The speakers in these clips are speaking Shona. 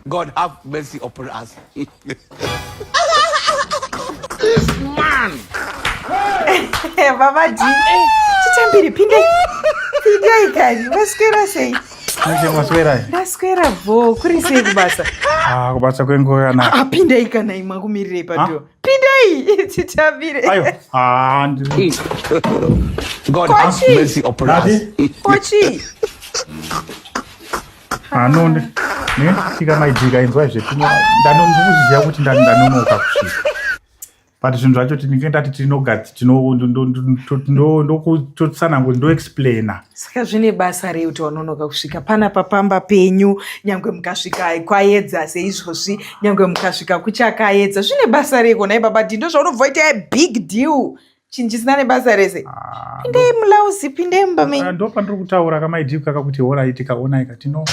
God have mercy upon us. this man. Baba G. Chichambiri pinde. Pinde ikari. Waswera sei? Manje maswera. Ndaswera bho. Kuri sei kubasa? Ah, kubasa kwenguva yana. Apinde ah, ikana imwa kumirira ipato. pindai titambire kochi anone netika maidika inzwa izve ndanoziva kuti ndanonoka kusvika but zvinhu zvacho tinenge ndati tinogati tinotosananguri ndoexplaina saka zvine basa rei kuti wanonoka kusvika panapa pamba penyu nyange mukasvika kwayedza seizvozvi nyange mukasvika kuchakayedza zvine basa rei konai baba ti ndozvaunobva ita big deal chinhu chisina nebasa rese ah, pindei mulauzi pindei mumba menyu ah, ndopandiri kutaura kamaidii kaka kuti horai tikaonai katino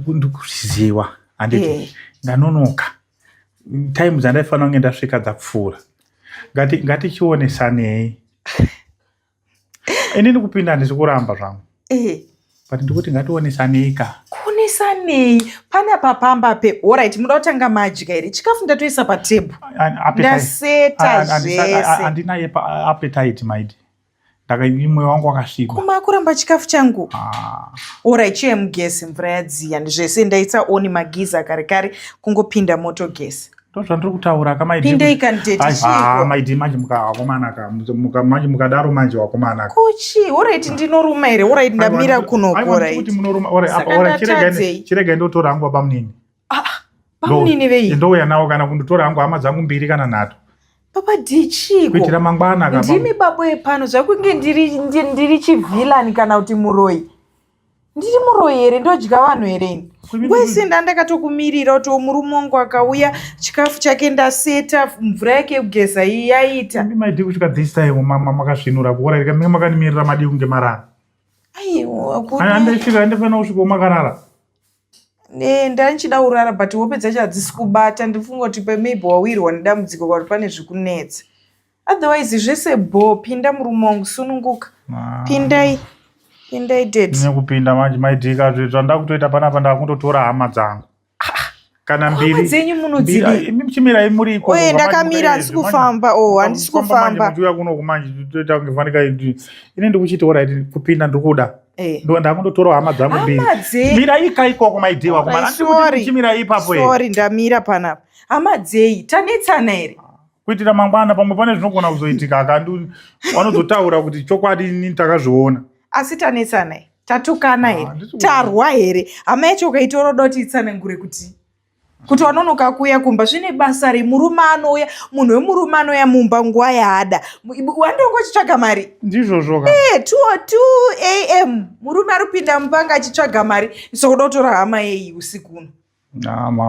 ndikuziwa handiti eh. ndanonoka time dzandaifanira kunge ndasvika dzapfuura ngatichionesanei inini kupinda handisi kuramba zvangu eh. but ndikuti ngationesaneika kuonesanei pana papamba pe orit muda kutanga madya here chikafu ndatoisa patebhu ndaseta zveseandina yepaapetite maidi ndakaimwe wangu wakasviba kuma kuramba chikafu changu ah. orit chiye mugesi mvura yadziya zvese ndaisa oni magiza kare kare kungopinda moto gesi ndozvandiri kutaura ka maidmaidi manje mukawakomanaka manje mukadaro manje wakomanaka kuchi orit ndinoruma here orit ndamira kunokorakuti munoruma chiregai ndotora hangu baba munini ah, bamunini vei ndouya nawo kana kunditora hangu hama dzangu mbiri kana nhatu papa dichiko kuitira mangwana ndimi babo epano zvakunge ndiri chivhilani kana kuti muroyi ndiri muroyi here ndodya vanhu here ini wese ndandakatokumirira kuti murume wangu akauya chikafu chake ndaseta mvura yake yekugeza iyi yaita maidi kusvika this time mama makasvinura kuora rika menge makanimirira madii kunge marara aiwaandasvika andifanira kusvika umakarara e ndandichida kurara but hope dzacho hadzisi kubata ndifunga kuti pemab wawirwa nedambudziko kwari pane zvikunetsa otherwise zvese bho pinda murume wangu sununguka ah. pindai pindai dednekupinda manje maidika zvandakutoita panapa ndakundotora hama dzangu ah. kana mbiri dzenyu munodzimichimirai muriko oye ndakamira handisi kufamba o oh, handisi kufamba ndiuya kuno kumanje toita kunge fanika ini ndikuchiti orit kupinda ndikuda Eh. ndo ndakundotorawo hama dzangu mbiri mirai ka ikoko maidewa kumarandikuti muchimirai ipapo sorry ndamira panapa hama dzei tanetsana here kuitira mangwana pamwe pane zvinogona kuzoitika akandi vanozotaura kuti chokwadi ini takazviona asi tanetsanai tatukana here ah, tarwa here hama yacho ukaitora uda kuti itsanangure kuti kuti wanonoka kuuya kumba zvine basa re murume anouya munhu wemurume anouya mumba nguva yaada wandongo chitsvaga mari ndizvozvoka e eh, two o two am murume ari kupinda mumba anga achitsvaga mari sokuda kutora hama yeyi usiku uno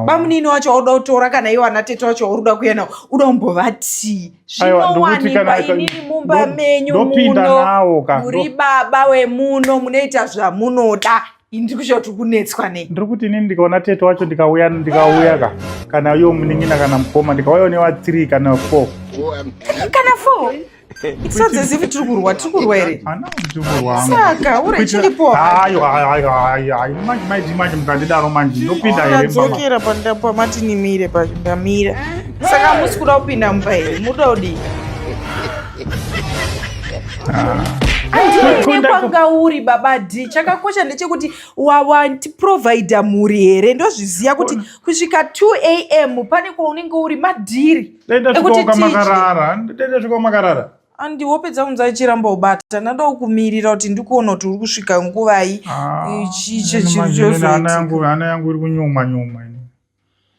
bamunini wacho wauda kutora kana iwo ana tete wacho wauri kuda kuya nawo uda kumbovatii zvinowanikwa inini mumba menyu muno muri baba wemuno munoita zvamunoda ndiri kushaya kuti kunetswa nei ndiri kuti inini ndikaona tete wacho ndikauya ndikauya ka kana yo munin'ina kana mukoma ndikauya newa three kana four kana four Sadzezivhi tiri kurwa tiri kurwa here? Saka uri chilipo. Hayo hayo hayo hayo hayo manje manje manje mukandidaro manje ndopinda here? Ndadzokera panda pamati nimire pandamira. Saka musi kuda kupinda mumba here? Muda kudii? Ah. andine kwanga uri baba d chakakosha ndechekuti wawatiprovidha mhuri here ndozviziva kuti kusvika 2 am pane kwaunenge uri madhiri dai ndasvikawo kamakarara dai ndasvikawo makarara andi wopedza kunzi achiramba ubata ndada kukumirira kuti ndikuona kuti uri kusvika nguvai ah, chichechiana yangu iri kunyuma nyuma ini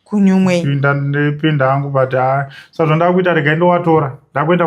kunyumwe ndipinda hangu but saka zvandakuita regai ndowatora ndakuenda